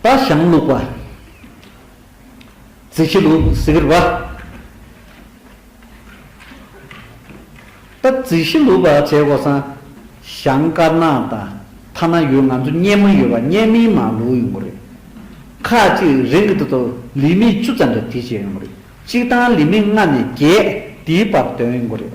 རྟ་ཞང་བླུགས་པ། རྩི་ཕྱེ་ལུག་གཟིག་རིལ་བ། རྟ་རྩི་ཤི་ལུག་པ་བྱེད་དགོས་སམ། ཞང་དཀར་ནག་དང་ཐ་ན་ཡོད་ང་ཚོ་གཉན་མོ་ཡོད་པ་གཉན་མིན་མ་ལུག་ཡོང་གི་རེད། ཁ་ཅིག་རིང་གི་དུས་དུ་ལི་མི་བཅུ་ཙམ་རེ་དེ་བྱེད་ཡོང་གི་རེད། གཅིག་དང་ལི་མི་ལྔ་ནས་བརྒྱད་དེའི་བར་དོན་ཡོང་གི་རེད།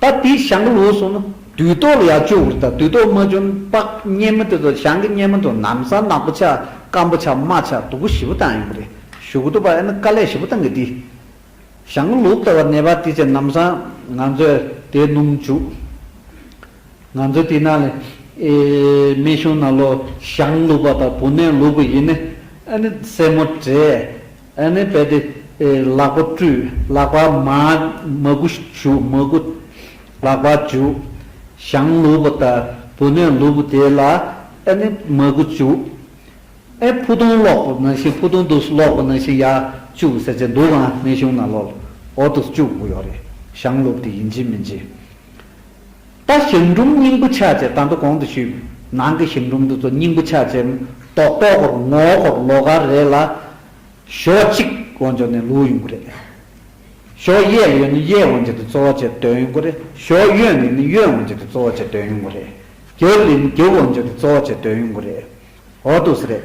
ད་དེའི་བྱང་གི་ལུགས་སོགས་ནི། དུས་རྟོག་ལ་ཡང་སྤྱོད་བུར་དང་དུས་རྟོག་མ་བྱོན་པགས་གཉན་མི་དེ་ཚོ་བྱང་གི་གཉན་མི་དང་ནམ་ཟ་ནག་པོ་ཆགས་སྐམ་པོ་ཆགས་རྨ་ཆགས་དུག་པོ་བཞི་པོ་དང་ཡོང་གི་རེད་ཞུ་གི་འདུག་པ་ཨེ་ནི་དཀའ་ལས་བཞི་པོ་བཏང་གི་འདུག་བྱང་གི་ལུགས་ལྟ་བ་ནད་པ་དེ་ཚོས་ནམ་ཟ་ང་ཚོས་དེ་སྣུམ་བྱུག་ང་ཚོས་དེ་ནང་ལ་ཨེ་མེད་བྱུང་ན་ལོ་བྱང་ལུགས་པ་དང་བུ་ནན་ལུགས་པ་ཡིན་ནི་ཨེ་ནི་སེར་མོ་བྲེས། ཨ་ནེ་བས་ཏེ། ལག་པ་བཀྲུས། ལག་པ་མ། མ་གུ་བྱུག། མ་གུ། ལག་པ་བྱུག། ཞང་ལུས་པོ་ལྟར། བུ་ནས་ལུས་པོ་དེ་ལ། ཨ་ནེ། མ་གུ་བྱུག། ཨེ། ཕུ་ཐུང་སློག་པོ་ན་ཤིང་ཕུ་ཐུང་དུས་སློག་པོ་ན་ཤིང་ཡག། བཅུག་ཟེར་བྱས་འདུག་གང་ནས་བྱུང་ན་ལོ། འོ་དུས་བཅུག་གོ་ཡོ་རེད། ཞང་ལུས་པོ་དེ་ཡིན་གྱི་མིན་གྱི། པ་ཞིང་སྒྲུབ་སྙིང་པོ་ཆགས་བཅས་དང་པོ་གོང་དུ་ཞུས་པའི་ནང་གི་ཞིང་སྒྲུབ་འདི་ཚོ་སྙིང་པོ་ཆགས་བཅས་མེ་ཏོག་ལྟོ་གོར་ངོ་གོར་ལོ་ག་རེ་ལ་ཞོ་གཅིག་དབང་འབྱོར་ནས་ལུག་ཡོང་གི་རེད། ཞོ་གཡས་ལ་ཡོད་ན་གཡས་དབང་འབྱོར་དེ་གཙོ་བོ་བཅས་སྟོན་ཡོང་གི་རེད། ཞོ་གཡོན་ལ་ཡོད་ན་གཡོན་དབང་འབྱོར་དེ་གཙོ་བོ་བཅས་སྟོན་ཡོང་གི་རེད། རྒྱབ་ལ་ཡོད་ན་རྒྱབ་དབང་འབྱོར་དེ་གཙོ་བོ་བཅས་སྟོན་ཡོང་གི་རེད། འོ་ཏོ་སི་རེད།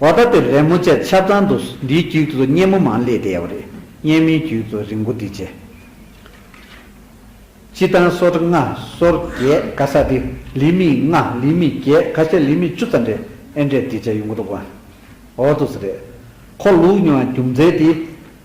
བ་ད་དེ་རེད་མོ་ཅེས་ཆབ་ཚང་དུ་འདིའི་རྒྱུད་དུ་སྙན་མོ་མང་ལེ་བསྡད་ཡོད་རེད་སྙན་མོའི་རྒྱུད་དུ་རིང་པོ་འདི་བྱས། སྤྱི་བཏང་སོར་ལྔ་སོར་བརྒྱད་ག་ས་འདི་ལི་མི་ལྔ་ལི་མི་བརྒྱད་ག་ཤ་ལི་མི་བཅུ་ཙམ་རེད་ཨེ་འདྲས་འདི་བྱས་ཡོང་གི་འདུག་བ། ཨོ་ཏོ་སི་རེད། ཁོ་ལུག་ཉོ་བ་རྒྱུ་མཚན་དེ།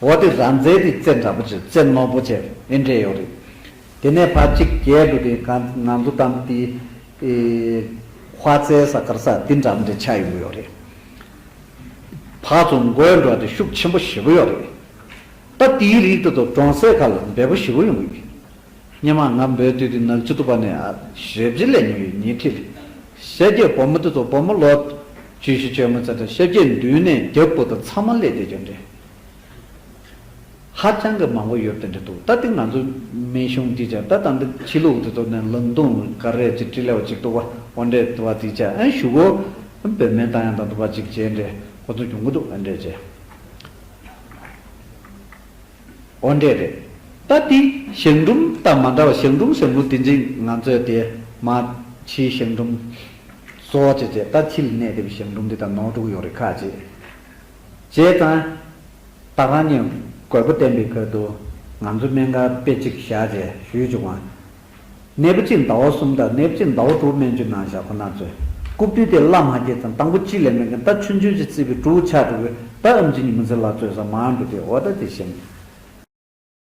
འོ་དེ་ར་མཛེས་དེ་རྩེ་འདྲ་པོ་བྱེད་རྩེ་རྣོ་པོ་བྱེད་ཨེ་འདྲེ་ཡོད་རེད། དེ་ནས་ཕ་གཅིག་རྒྱལ་དུ་དེ་ག་ང་ཚོ་དང་དེ་དེ་ཁ་རྩེ་ས་དཀར་ས་དེ་འདྲ་མོ་དེ་ཆགས་ཡོང་གི་ཡོད་རེད། ཕ་ཚོ་མགོའི་འགྲོ་དེ་ཤུགས་ཆེན་པོ་ཞེ་པོ་ཡོད་རེད། ད་དེའི་རིགས་དེ་ཚོ་གྲོང་གསེབ་ཁ་ལ་འབེལ་པོ་ཞེ་པོ་ཡོང་གི་ཡོད། སྙེ་མ་ང་འབོད་དུས་དེ་ནག་ཆུ་ཐུ་བ་ནས་ཨ་ཞེ་བཞི་ལས་ཉེ་བའི་ཉེ་འཁྲིས་རེད། ཤེལ་སྐྱེས་བུ་མོ་དེ་ཚོ་བུ་མོ་ལོ་བཅུ་བཞི་བཅོ་ལྔ་ཚེ་འདྲ་ཤེལ་སྐྱེས་མདུན་ནས་རྒྱབ་སྤུ་དང་ཚ་མོ་ལས་དེ་ཅོ་འདྲེ། ཧ་ཅང་གི་མང་བོ་ཡོད་དེ་འདྲ་འདུག་ད་ལྟའི་ང་ཚོའི་སྨན་གཞུང་འདི་ཅག་ད་ད་འདི་ཕྱི་ལུགས་དེ་ཚོ་ནས་ལུང་སྟོང་ག་རེ་གཅིག་དྲི་ལེའོ་གཅིག་དུ་བ་བ་འདྲེ་དུ་བ་དེ་ཅག་ཨེ་བཞུགས་གོ། བོད་སྨན་དང་ཡང་དང་དུ་བ་གཅིག་བྱས་འདྲེ་ཁོ་ཚོ་བྱུང་གི་འདུག་ཨེ་འདྲེ་ཅེས། འོ་འདྲེ་རེད། ད་ལྟའི་ཞང་འབྲུམ་དང་མ་འདྲ་བ་ཞང་འབྲུམ་ཞང་བོ་དེ་འཛིན་ང་ཚོས་དེ་མ་ཕྱིའི་ཞང་འབྲུམ། བཟོ་བྱས་བྱས་ད་ཕྱི་ལ་གནས་བདེ་བའི་ཞང་འབྲུམ་འདི་དང་ནོར་དྲུག་ཡོད་རེད་ཁ་ཅེས། བྱས་ཙང། ད་རང་ཉིད་རྒོད་པོ་བསྟན་པའི་ཁུལ་དུ་ང་ཚོའི་སྨན་ཁང་དཔེ་གཅིག་བཞག་རྗེས་ཞུས་བྱུང་བ། ནད་པ་གཅིག་ཟླ་བ་གསུམ་དང་ནད་པ་གཅིག་ཟླ་བ་དྲུག་སྨན་བཅོས་གནང་བཞག་ཁོ་ན་ཚོས་རྐུབ་བསྟུད་དེ་བླ་མ་སྐྱེས་ཙང་དང་པོ་གཅིག་ལས་མེད་མཁན་ད་ཆུ་འཇོལ་གྱི་རྩིས་པའི་ཀྲུའུ་ཆགས་འགྲོ་གི་ད་ཨམ་ཆི་ཉི་མ་ཚེ་ལགས་གཙོས་ས་མང་འགྲོ་དེ་འོ་ད་དེ་བཞིན།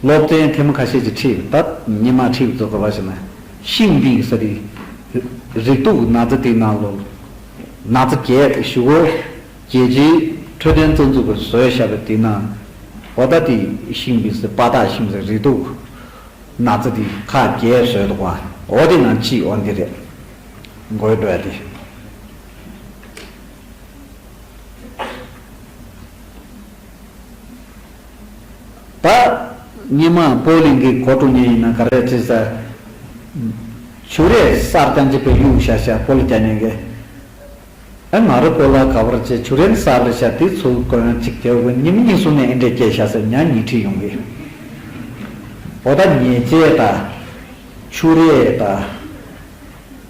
སློབ་ཚན་ཐེངས་ཁ་ཤས་ཀྱི་ཁྲིད་ད་ཉི་མ་ཁྲིད་རྫོགས་ག་བ་ཞིག་ན། ཤིང་སྡིག་ཟ་རིག། རིག་དུག་ན་ཚ་དེ་ནང་ལོག། ན་ཚ་བརྒྱད་དེ་ཞུ་གོ། རྒྱལ་སྤྱིའི་འཕྲོད་བསྟེན་རྩ་འཛུགས་ཀྱི་བཟོས་བྱ་བའི་དུས་ན། བོ་ད་དེ་ཤིང་སྡིག་ཟ་དཔའ་དག་ཤིང་ཟ་རིག་དུག། ན་ཚ་དེ་ཁ་བརྒྱད་བཟོས་འདུག་བ་འོ་དེ་ནང་ཅི་འོ་འདི་རེད། དགོས་འདོད་དེ། པ། སྙེ་མ་པོ་གླིང་གི་གོ་གྲུ་གཉན་ཡིན་ན་གར་རས་ཁྲི་ས། ཆུ་རས་གསར་རྐྱང་བྱེད་པའི་གཡུག་ཤ་ཤ་པོ་ལ་སྐྱ་གཉན་གི། ཨེ་ང་རོ་པོ་ལ་ག་བར་བྱེད་ཆུ་རན་གསར་རས་ཤ་དེའི་ཚུལ་དཀོན་གཅིག་རྒྱལ་བོ་གཉིས་མི་གཉིས་གསུམ་ནས་ཨེ་འདྲས་སྐྱེ་ཤ་སེར་ཉག་གཉིས་ཁྲིད་ཡོང་གི། བོ་ད་ཉེས་བྱས་ད། ཆུ་རས་ད།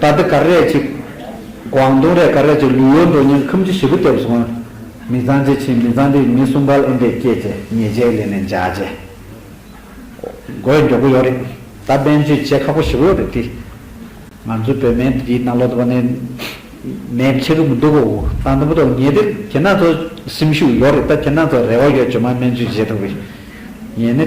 ད་ལྟ་གར་རས་གཅིག། ཀོང་ཏུང་རས་གར་རས་གཅིག་ལུས་ཡོད་འགྲོ་སྙིང་ཁམས་ཀྱི་བྱེད་པོ་སྟེ་བཟུང་བ། མི་གཙང་ཅི་ཕྱིན་མི་གཙང་དེ་མི་གསུམ་བལ་ཨེ་འདྲས་སྐྱེས་ཚེ་ཉེས་བྱས་ལས་ནས་འཇགས་རྗེས། དགོས་མགྱོགས་པོ་ཡོད་རེད། ད་དཔལ་འབྱོད་བྱེད་ཁག་པོ་བྱེད་པོ་ཡོད་རེད་དེ། ང་ཚོའི་བོད་མའི་འདི་གྱི་ནང་ལོག་དུ་བ་ནས་མེད་བྱེད་ཀྱི་མི་འདུག་གོ། ད་དང་པོ་ཏོག་ཉེས་དེ་ཁྱེད་རང་ཚོ་སེམས་ཤུགས་ཡོད་རེད་ད་ཁྱེད་རང་ཚོ་རེ་བ་ཡོད་བྱོས་མ་སྨན་བཅོས་བྱེད་ཐུབ་པའི། ངས་ནི།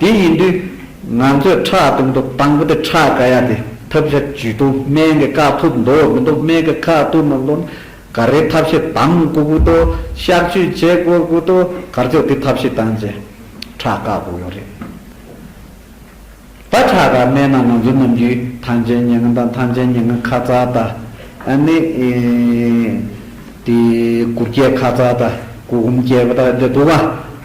དེ་ཡིན་དུས། ང་ཚོས་ཁྲག་གཏོང་ཐུབ་དང་པོ་དེ་ཁྲག་ག་ཡ་དེ་ཐབས་ཤེས་བྱུས་ཏོ་སྨན་གི་ཁ་ཐུབ་མདོ་བ་མི་འདུག་སྨན་གི་ཁ་ཐུབ་མི་འདུག་ན་ག་རེའི་ཐབས་ཤེས་དང་དགོས་གི་དོ་གཤག་བཅོས་བྱེད་དགོས་གི་དོ་གར་ཚོད་དེ་ཐབས་ཤེས་དང་བཅས་ཁྲག་ག་དགོས་ཡོད་རེད་ད་ཁྲག་ག་མེད་ན་ང་ཚོ་ནམ་རྒྱུན་ཐང་ཆེན་ཉེ་ང་དང་ཐང་ཆེན་ཉེ་ང་ཁ་ཚ་ད་ནི་དེ་གུར་སྐྱེས་ཁ་ཚ་ད་གུར་ཧུམ་སྐྱེས་པ་ད་དེ་དགོས་པ།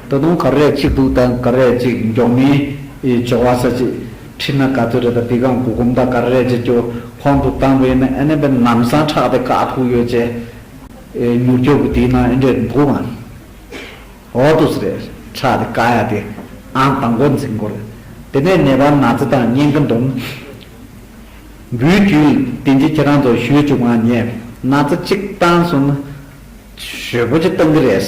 ད་དུང་གར་རས་གཅིག་འདུག་ད་གར་རས་གཅིག་མགྱོགས་མིན། ཇོ་བ་ས་ཅིག། ཁྲིད་ན་ག་ཚོད་རེད་ད་དེ་གང་གུ་གུམ་ད་གར་རས་གཅིག་ཀྱོ་ཁོང་དུ་བཏང་དགོས་ཡིན་ན་ཨེ་ནས་པའི་ནམ་སང་ཁྲག་དེ་ག་ཕུག་ཡོད་ཅེ། མྱུར་སྐྱོབ་གི་དེའི་ནང་ཨེ་འདྲས་འདུག་ཨང། ཨོ་ཏུ་སི་རེད་ཁྲག་དེ་ག་ཡ་དེ་ཨང་དང་པོ་འཛིན་དགོས་རེད། དེ་ནས་ནད་པ་ན་ཚེ་དང་གཉེན་གི་འདུམ་འབུལ་རྒྱུའི་དེ་འདྲས་ཁྱེད་རང་ཚོ་ཞུས་བཅུག་ཨང་ངས་ན་ཚེ་གཅིག་བཏང་སོང་ན། ཞོད་པོ་ཅིག་བཏང་གི་རེད།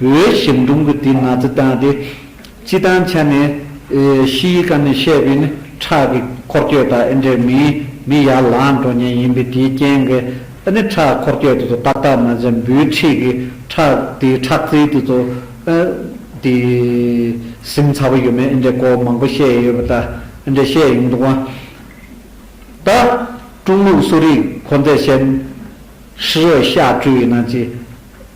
བོད་ཞིབ་འབྲོང་གི་དེའི་ནག་རྩི་བཏང་སྟེ། སྤྱི་བཏང་ཆ་ནས། ཤི་ཡིས་ཀ་ནས་བཤད་པའི་ནི་ཁྲག་གི་འཁོར་སྐྱོད་དང་ཨེ་འདྲས་མིན། མི་ཡར་ལངས་འགྲོ་ཉེན་ཡིན་པས་དེའི་རྐྱེན་གྱིས་ཨེ་ནི་ཁྲག་གི་འཁོར་སྐྱོད་དེ་ཚོ་ཏག་ཏག་མ་ཟིན་འབུའི་འཁྲིས་ཀྱི་ཁྲག་དེའི་ཁྲག་རྩི་དེ་ཚོ། དེ། ཟིན་ཚར་བ་ཡོད་མེད་ཨེ་འདྲས་སྐོར་མང་པོ་བཤད་ཡོད་པ་ད་ཨེ་འདྲས་བཤད་ཡོང་འདུག་བ། ད། ཀྲུང་ལུགས་གསོ་རིག་ཁོ་ཚས་བཤད། ཧྲི་རོས་ཤ་བཀྲུས་ཡིན་ན་ཅི།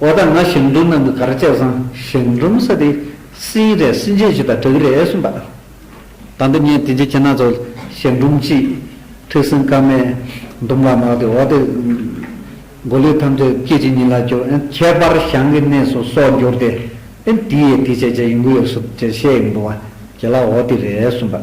འོ་ད་ང་ཞིང་འབྲོག་ནང་གི་གར་སྤྱད་བཟང་ཞིང་འབྲོམ་ས་དེ་སིང་རས་སིང་རྗེ་བྱེད་པ་དྲག་རེད་གསུངས་པ་ད་འདི་ངས་དེ་འཇིག་ཁྱེད་ནང་ཚོ་ཞིང་འབྲོམ་གཅིག་ཐུགས་སེམས་དཀར་མའི་འབྲོམ་ལ་མག་དེ་འོ་དེ་མགོ་ལུས་ཐམས་ཅད་སྐད་ཅིག་ཉིད་ལ་སྐྱོ་ཨེ་ཁྱད་པར་ཞང་གི་གནས་སུ་སྲོག་འགྱུར་ཏེ་ཨེ་དེ་ཡས་དེ་བྱས་བྱས་ཡོང་གི་ཡོད་སུ་བྱས་བྱས་ཡོང་གི་འདུག་བ་དེ་ལ་འོ་དེ་རེད་གསུངས་པ།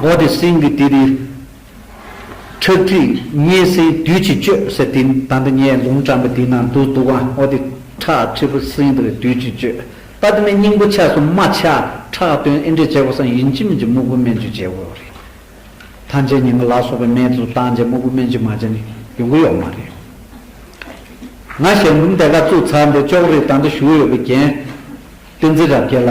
འོག་ཏུ་སེང་གེ་དེ་རིགས་ཁྲག་ཁྲིག་བསྙེས་སེང་བདུད་ཀྱིས་གཅོད་ཟེར་དེ་དང་དུ་བསྙེས་ལུང་དྲངས་པ་དེའི་ནང་དུ་འདུག་ཨང་འོག་ཏུ་ཁྲག་ཁྲིག་པོ་སེང་དེ་རིགས་བདུད་ཀྱིས་གཅོད། པདྨའི་སྙིང་པོ་ཆགས་སུ་མ་ཆགས་ཁྲག་བཏོན་ཨེ་འདྲས་བྱས་པ་སང་ཡིན་གྱི་མིན་གྱི་སྨུག་པོ་སྨན་གྱི་བྱེད་དགོས་པ་རེད། ཐམས་ཅད་ཉི་མ་ལ་སོགས་པའི་སྨན་དུ་བཏང་རྗེས་སྨུག་པོ་སྨན་གྱི་མ་བྱས་ནས་ཡོང་གི་ཡོད་མ་རེད། ང་ཞལ་འབུམ་དེ་ག་བཙུགས་ཚར་འདུག་ཅོག་རིགས་དང་དུ་བཞུགས་ཡོད་པའི་རྒྱན། ཏིང་འཛིན་རབ་རྒྱས་ལ།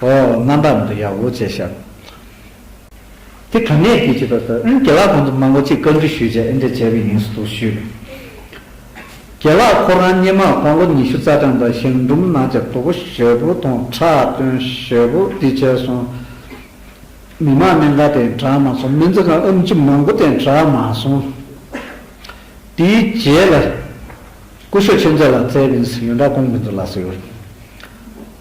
ཨོ་རྣམ་པར་མི་འདུག་ཡ་འོ་བྱས་ཤར། དེ་ག་ནས་དེ་བྱས་པ་སོགས་ཨིན་དགེ་ལགས་གོང་དུ་མ་མགོ་ཅིག་བཀའ་འདྲི་ཞུས་བྱས་ཨིན་དྲི་བྱས་པའི་ཡིན་སུ་འདུག་ཞུས། དགེ་ལགས་ཁོ་རང་སྙེ་མ་གོང་ལོ་ཉི་ཤུ་རྩ་གྲངས་དང་ཞིང་འབྲུམ་ནང་བྱ་དོ་པོ་ཞེ་པོ་དང་ཁྲག་བཏོན་ཞེ་པོ་འདི་བྱས་སོང། མི་མང་གནད་འགག་དེ་དྲག་མ་སོང་མི་ཚེ་གང་ཨུམ་ཅི་མང་པོ་དེ་དྲག་མ་སོང། དེའི་རྗེས་ལ། སྐུ་ཞོ་ཆེ་མཛོད་ལ་བཙལ་བས་ཡོན་གྲགས་སྐོང་མི་འདུག་ལགས་ཟེར།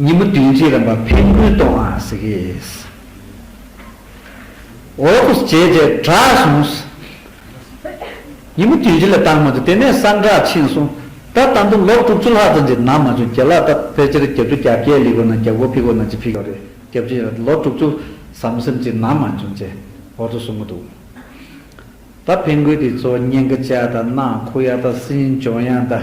ཉིན་མོ་བདུན་གྱི་རིམ་པ་འཕེན་སྐུལ་གཏོང་བ་ཟེར་གི་ཡོད། འོ་ཀོ་ཟེར་བྱས་རྗེས་གྲགས་བྱུང། ཉིན་མོ་བདུན་གྱི་ལས་བཏང་མ་བཅུག་དེ་ནས་གསང་གྲགས་ཕྱིན་སོང། ད་ལྟ་འདུག་ལོ་དྲུག་ཅུ་ལྷག་ཙམ་གྱི་ནང་མ་བྱུང་རྒྱ་ལ་ད་ཕལ་ཆེར་གྱ་དྲུག་གྱ་བརྒྱད་ལི་གོ་ན་གྱ་དགུ་ཕི་གོ་ན་གཅིག་ཕི་ཡོད་རེད་གྱ་བཞི་ཡོད་ལོ་དྲུག་ཅུ་ཟམ་ཟིམ་གྱི་ནང་མ་བྱུང་ཅེས་འོ་ཐོ་གསུང་གི་འདུག་ད་འཕེན་སྐུལ་དེ་ཚོ་སྙན་གྱི་ལྕགས་དང་ནག་ཁུ་ཡག་དང་སྲིན་འབྱོན་ཡག་དང།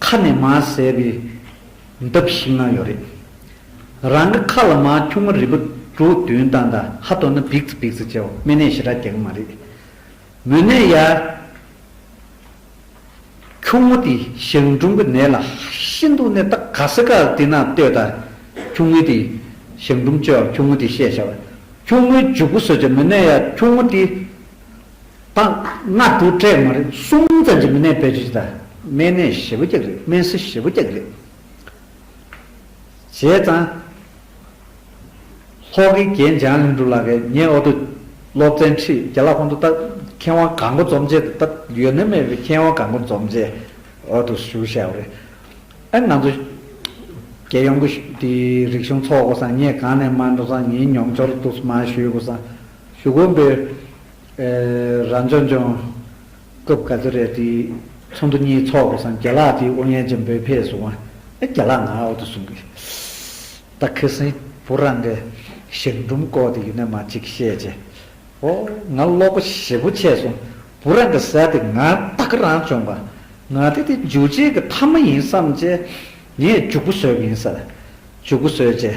ཁ་ནས་མ་བཟས་པའི་འདབ་ཞིག་ན་ཡོད་རེད། རང་གི་ཁ་ལ་མ་ཁྱུང་མོ་རིལ་བུ་གྲུ་བདུན་དང་ད་ཧ་དོ་ན་བིགས་བིགས་བྱས་བ་སྨན་ནད་ཞི་དྲག་རྒྱག་གི་མ་རེད། མོ་ནད་ཡ། ཁྱུང་མོ་དེ་ཞག་འབྲུམ་གྱི་ནད་ལ་ཤིན་ཏུ་ནས་ད་ག་ཟེ་ག་དེ་ན་ལྟོས་ད་ཁྱུང་མོའི་དེ་ཞག་འབྲུམ་བཅོས་བ་ཁྱུང་མོ་དེ་བཤད་བྱ་བ་ཁྱུང་མོའི་འཇུག་སྒོ་བཟོས་བྱ་མོ་ནད་ཡ་ཁྱུང་མོ་དེ། དང། ལྔ་དྲུག་ཕྲད་མ་རེད་གསུམ་ཙམ་གྱི་མི་གནས་པའི་རིགས་དང་སྨན་གནས་བཞི་བོ་བརྒྱག་རེད་སྨན་སྲི་བཞི་བོ་བརྒྱག་རེད། བྱས་ཙང། ལྷོ་ཁའི་རྒྱན་འཇང་གླིང་སྒྲུང་ལགས་ཀས་ངས་ཨོ་དོ། སློབ་ཚན་ཁྲིད་རྒྱ་ལག་ཁོང་དུ་བཏབ། མཁས་དབང་གང་མགོ་འཛོམས་བྱས་ཏེ་བཏབ་ཡོད་ནི་མེད་པའི་མཁས་དབང་གང་མགོ་འཛོམས་བྱས་ཨོ་དོ་ཞུ་བྱས་པ་རེད། ཨེ་ང་ཚོ། རྒྱལ་ཡོངས་ཀྱི་དེའི་རིག་གཞུང་ཚོགས་པ་སང་ངས་གང་ནས་མ་འགྲོ་སང་ངའི་མྱོང་འཆོར་དུ་མ་ཞུས་པ་སང་ཞུ་དགོངས་པའི། རང་སྦྱོང་སྦྱོང། སྐབས་ག་ཚོད་རེད་དེའི། ཚོགས་འདུ་གཉིས་འཚོགས་དགོས་སམ་རྒྱ་ལག་དེའི་དབུ་བརྙན་ཅན་བོད་ཕེ་སུ་དབང། ཨེ་རྒྱ་ལག་ང་ཨའོ་དུ་གསུང་གི། ད་ཁི་སིང་པུར་རང་གི། ཞང་འབྲུམ་བཀོག་དེ་ཡུ་ནན་མ་ཅིག་བཤད་ཅེ། ཨོ། ང་ཀློག་པ་ཞེ་པོ་ཆད་སོང། བུ་རང་གི་ཟས་དེ་ང་ད་ཁི་རང་སྦྱོང་པ། ང་དེ་དེ་འཇུ་བྱེད་ཀྱི་ཐ་མ་ཡིན་བསམ་ཅེ། ངས་འཇུག་པོ་བཟོས་གི་ཡིན་ཟེར། འཇུག་པོ་བཟོས་ཅེ།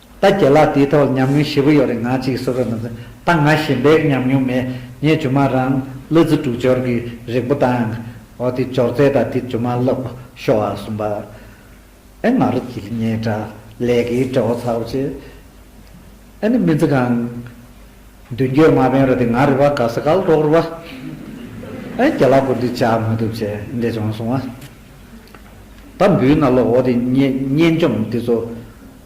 ད་ཁྱེད་ལ་དེའི་ཐོག་ཉམས་མྱོང་ཞེ་པོ་ཡོད་རེད་ང་གཅིག་གསོ་རོགས་གནང། ད་ང་གཞན་པའི་ཉམས་མྱོང་མེད་ངས་ཇོ་མང་རང་བློ་རྩེ་དྲུག་སྦྱོར་གྱི་རིགས་པོ་དང། འོ་དེ་སྦྱོར་ཚད་དང་དེ་ཇོ་མང་སློབ་ཤོག་ཨ་གསུམ་པ། ཨེ་ང་རོ་དེ་ལས་ངས་དྲ་ལས་ཀྱི་དྲ་བོ་ཚར་བ་བྱས། ཨེ་ནི་མི་ཚེ་གང། མདུན་སྐྱོད་མ་ཕན་རོ་དེ་ང་རེད་པ་ག་ས་ག་ལ་འགྲོགས་རོ་བ། ཨེ་ཁྱེད་ལ་ཀུན་དུ་བྱ་མི་ཐུབ་བྱས་འདྲེ་བྱུང་སོང་བ། ད་འབུའི་ན་ལོ་འོ་དེ་བསྙེན་བཅོམ་དེ་ཚོ།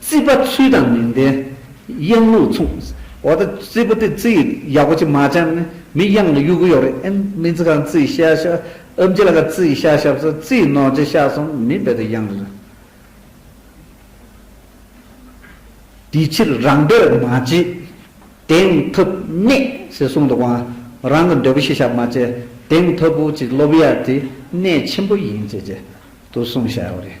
རྩིས་པ་ཚུལ་དང་མི་ལྡན། གཡང་ལུག་མཚུངས། འོ་ད་རྩིས་པ་དེ་རྩིས་ཡག་པོ་ཅིག་མ་བྱང་ནི་མི་གཡང་ལ་གཡུག་གི་ཡོག་རེད་ཨེ་མིན་ཚིག་རྐང་རྩིས་ཤ་ཤ་ཨུ་འབྱེད་ལ་ཁ་རྩིས་ཤ་ཤ་བཟོ་རྩིས་ནོར་རྗེ་ཤ་གསུམ་མི་སྦེད་དུ་གཡང་རེད། དེ་ཕྱིར་རང་འདོད་མ་བྱེད། དེང་ཐུབ་གནས་ཞེས་གསུང་འདུག་བ། རང་གི་འདོད་པོ་ཤེས་བྱ་མ་བྱེད། དེང་ཐུབ་བོ་ཅིག་སློབ་ཡ་དེ་གནས་ཆེན་པོ་ཡིན་བྱེད་བྱེད་དུ་གསུང་བྱ་ཡོག་རེད།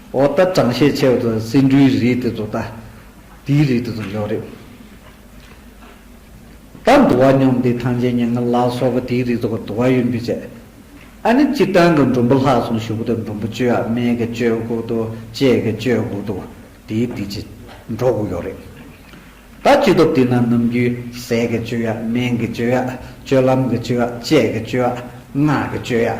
འོ་ད་དྲང་བཤད་ཆེ་བ་དང་སེ་འབྲུའི་རིགས་དེ་ཚོ་ད་དེའི་རིགས་དེ་ཚོ་ཡོད་རེད། ད་འདུ་བ་སྙོམས་དེ་ཐང་ཆེན་ཉེ་ངར་ལ་སོགས་པ་དེའི་རིགས་དེ་ཁོ་འདུ་བ་ཡོད་འདུག་ཅེས། ཨ་ནི་སྤྱིར་བཏང་གི་འབྲུམ་བུ་ལྷག་སོང་ཞུ་གི་འདུག་འབྲུམ་བུ་བཅོས་ཨ་མའི་གི་བཅོས་བསྒུག་འདུག་བཅས་གི་བཅོས་བསྒུག་འདུག་དེའི་དེ་ཅི་འགྲོ་བསྒུག་ཡོད་རེད། ད་སྤྱི་སྟོབས་དེ་ན་ནམ་རྒྱུན་ཟས་གི་བཅོས་ཨ་སྨན་གི་བཅོས་ཨ་སྤྱོད་ལམ་གི་བཅོས་ཨ་དཔྱད་གི་བཅོས་ཨ་སྔགས་གི་བཅོས་ཨ།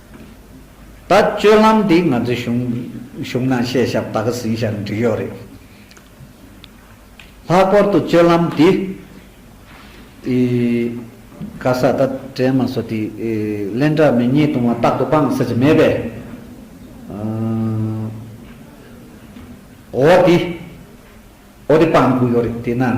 ད་སྤྱོད་ལམ་འདི་ང་ཚོའི་གཞུང་གཞུང་ནང་བཤད་ཞབས་ད་ག་ཟིན་ཞར་འགྲིག་ཡོད་རེད། ལྷག་པར་དུ་སྤྱོད་ལམ་འདི་ཡི་ག་ས་ད་དྲན་མ་སོ་དེ་གླེན་དྲ་མི་ཉེས་དུང་བ་རྟག་ཏུ་སྤང་ས་ཅི་མེད་པས། འོ་དེ་འོ་དེ་སྤང་དགོས་ཡོད་རེད་དེ་ན།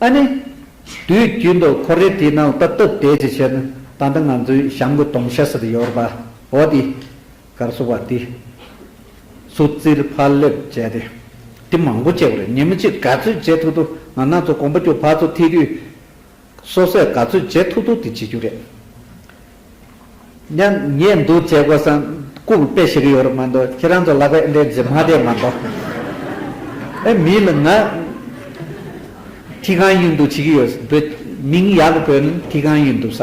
ཨ་ནི། དུས་རྒྱུན་དུ་ཁོ་རེ་དེའི་ནང་བཏབ་བཏབ་བསྡད་ཅི་བྱེད་ན་ད་ལྟ་ང་ཚོའི་གཤམ་གྱི་དོང་ཤ་ཟེར་ཡོད་པ་འོ་དེ་གར་སོང་བ་དེ་སུ་བཙིར་ཕར་སླེབ་བྱས་ཏེ་དེ་མང་པོ་བྱས་པ་རེད་ཉིན་མོ་གཅིག་ག་ཚོད་བྱེད་ཐུག་ཐུག་ང་ནག་ཚོ་གོམ་པ་སྐྱོ་བག་ཚོ་ཐིག་དུས་སོ་སོས་ག་ཚོད་བརྗེད་ཐུབ་ཐུབ་དེ་བྱེད་རྒྱུ་རེད། སྙམ། ངས་འདུག་བྱེད་དགོས་སམ། སྐུ་ལ་དཔེ་ཤེས་ཀྱི་ཡོད་རེད་མ་འདུག་ཁྱེད་རང་ཚོ་ལག་པས་འདྲེན་རྗེས་མ་བསྡད་མ་འདུག། ཨེ་མི་ལ་ང། ཐིག་གང་ཡིན་འདུག་བྱེད་ཀྱི་ཡོད། བོད་མིང་ཡག་པོ་བོས་ན་ཐིག་གང་ཡིན་འདུག་ས།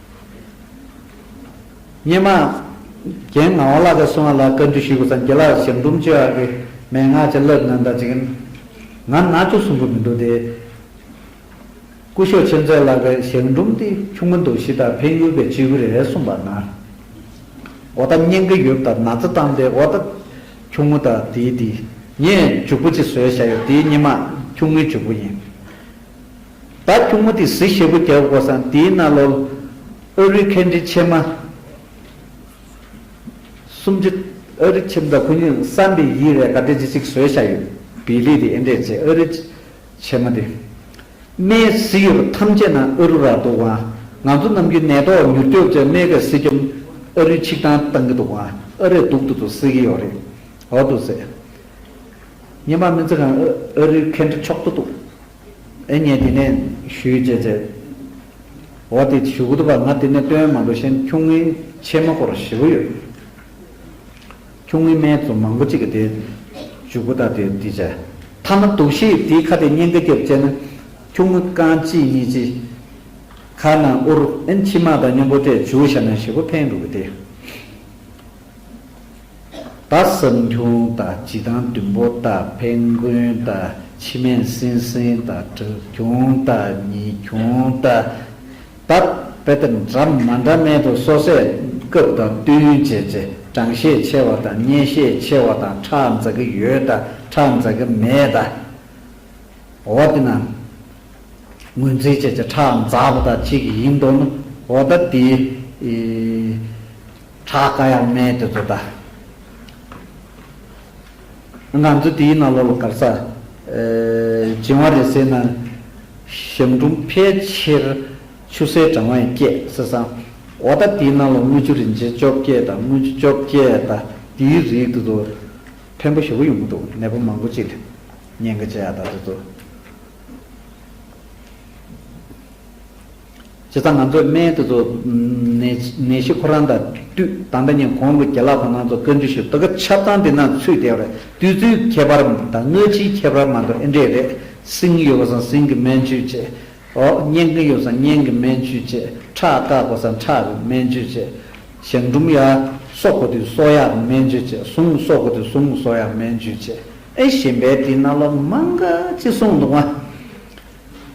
སྙེ་མ། རྒན་ངག་དབང་བླ་དགའ་སོང་བ་ལ་བཀའ་འདྲི་ཞུས་དགོས་སམ་རྒྱལ་ལགས་ཞབས་འབྲུམ་བཅོས་ཨ་ཀི་མན་ངག་བྱ་ལབ་ན་ད་ཅིག། ང་ནག་ཆུ་སྲུང་གི་མི་འདུག་དེ། སྐུ་ཞོགས་ཆེ་མཛད་ལགས་པའི་ཞབས་འབྲུམ་དེ་ཆུང་མ་འདུག་གཞི་བདག་འཕན་ཡུལ་པའི་སྤྱི་བུ་རེད་གསུངས་པ་ན། འོ་ད་སྙན་གི་ཡོབ་དང་ན་ཚ་བཏང་སྟེ་འོ་ད། ཁྱུང་མོ་ད་དེའི་དེ། ངས་འཇུག་པོ་ཅིག་བཟོས་བཞག་ཡོད་དེའི་སྙེ་མ་ཁྱུང་མོའི་འཇུག་པོ་ཡིན། ད་ཁྱུང་མོ་དེ་གཟི་ཞེ་པོ་རྒྱག་དགོས་སམ་དེའི་རྣ་ལོལ། ཨོ་རི་ཁེ་འབྲི་ཆེ་མ། སུམ་ཅུ། ཨོ་རི་ཁྱིམ་བདག་ཁོ་གཉིས་བསམ་པའི་ཡིད་རེ་ག་དེ་ཅི་ཞིག་བཟོས་བཞག་ཡོད། བི་ལི་དེ་ཨེ་འདྲས་ཚེ་ཨོ་རི། ཆེ་མ་དེ། རྨའི་གཟི་ཡོད་པ་ཐམས་ཅད་ན་ཨོ་རུ་ར་འདུག་ཨང། ང་ཚོ་ནམ་རྒྱུན་ནད་ཐོག་མྱུར་སྐྱོབ་ཚོས་རྨའི་ག་གཟི་འཇོམས། ཨོ་རི་ཆིག་ཐང་བཏང་གི་འདུག་ཨང་ཨོ་རེ་སྡུག་ཏུ་ཏུ་སེ་གི་ཡོད་རེད། འོ་འདུག་སེ། ཉི་མ་མི་ཚེ་གང། ཨོ་རི་ཁེ་འབྲི་ཆོག་ཏུ་འདུག། ཨེ་ཉེས་དེ་ནས་ཞུས་རྗེས་ཚེ་འོ་དེ་ཞུ་གི་འདུག་པ་ང་དེ་ནས་བཏོན་མ་འདུག་ཤེན་ཁྱུང་ངའི་ཆེ་མ་སྐོར་བཞི་བོ་ཡོད་ཁྱུང་ངའི་སྨད་ཙོ་མང་པོ་ཅིག་གི་དེ་ཞུ་གི་ད་དེ་དེ་བྱ། ཐ་མ་དུག་ཤེས་དེའི་ཁ་དེ་སྙན་ག་རྒྱབ་བཅད་ན་ཁྱུང་ངུ་རྐང་གཅིག་གཉིས་གཅིག་ཁ་ན་ཨུར་ཨེན་ཁྱི་མ་དང་མཉམ་པོ་ཏས་ཇུ་བཞག་ན་ཞི་བོ་འཕེན་དགོས་གི་དེ། ད་སེམས་ཁྱུང་ད་སྤྱི་དང་བདུན་པོ་ད་འཕན་རྒུན་ད་ཕྱི་མན་སྲིན་སྲིན་ད་དྲུག་ཁྱུང་ད་ཉིས་ཁྱུང་ད། ད་དཔེ་དེབ་འདྲ་མ་འདྲ་མེད་དུ་སོ་སའི་སྐབས་དང་བསྟུན་བྱས་ཚེ་གྲངས་ཤས་ཆེ་བ་དང་སྙན་ཤས་ཆེ་བ་དང་ཁྲག་འཛག་གི་ཡོད་ད་ཁྲག་འཛག་གི་མེད་ད། འོ་དེ་ན་ངོས་འཛིན་བྱས་ཚེ་ཁྲག་འཛག་པོ་ད་གཅིག་ཡིན་འདུག་ན་འོ་ད་དེའི། བྲག་དཀར་ཡང་སྨད་དེ་ཚོ་ད། ང་ཚོ་དེའི་ནང་ལོགས་ལ་གར་ས་སྦྱིན་བ་རེད་ཟེར་ན། ཞབས་འབྲུམ་ཕལ་ཆེར་ཆུ་སེར་གྲང་བ་ཡང་སྐྱེས་ཟེར་ས། འོ་ད་དེའི་ནང་ལོགས་དངུལ་ཆུ་རིན་ཆེན་བཅོ་བརྒྱད་དང་དངུལ་ཆུ་བཅོ་བརྒྱད་ད་དེའི་རིགས་དེ་ཚོ། ཕན་པོ་ཞེ་པོ་ཡོང་གི་འདུག་ནད་པ་མང་པོ་ཅིག་ལ་ཉེན་ཁ་ཆེ་ཡ་ད་དེ་ཚོ། བྱས་ཙང་ང་ཚོས་སྨན་དེ་ཚོ་ནད་གཞི་ཁོ་རང་དང་བསྟུད་ད་ལྟ་ཉིན་གོང་གི་རྒྱ་ལག་པ་རྣམས་ཚོ་བཀའ་འདྲི་ཞུ་དོ་གབ་ཆབ་ཚང་འདི་ན་ཚུད་བསྡད་པ་རེད་དུས་ཚོད་ཁྱད་པར་དང་སྔ་ཕྱིའི་ཁྱད་པར་མ་འདུག་ཨེ་འདྲས་རེད་སྲིང་ཡོད་པ་སང་སྲིང་གི་སྨན་བཅོས་བྱས་ཨོ་གཉན་གི་ཡོད་སང་གཉན་གི་སྨན་བཅོས་བྱས་ཁྲག་བཀག་དགོས་སང་ཁྲག་གི་སྨན་བཅོས་བྱས་ཞང་འབྲུམ་ཡག་གསོ་དགོས་དུས་གསོ་ཡག་གི་སྨན་བཅོས་བྱས་ཟུངས་གསོ་དགོས་དུས་ཟུངས་གསོ་ཡག་སྨན་བཅོས་བྱས་ཨེ་གཞན་པའི་དེ་རྣམས་ལ་མང་ག་ཅི་གསུངས་འདུག་ཨ།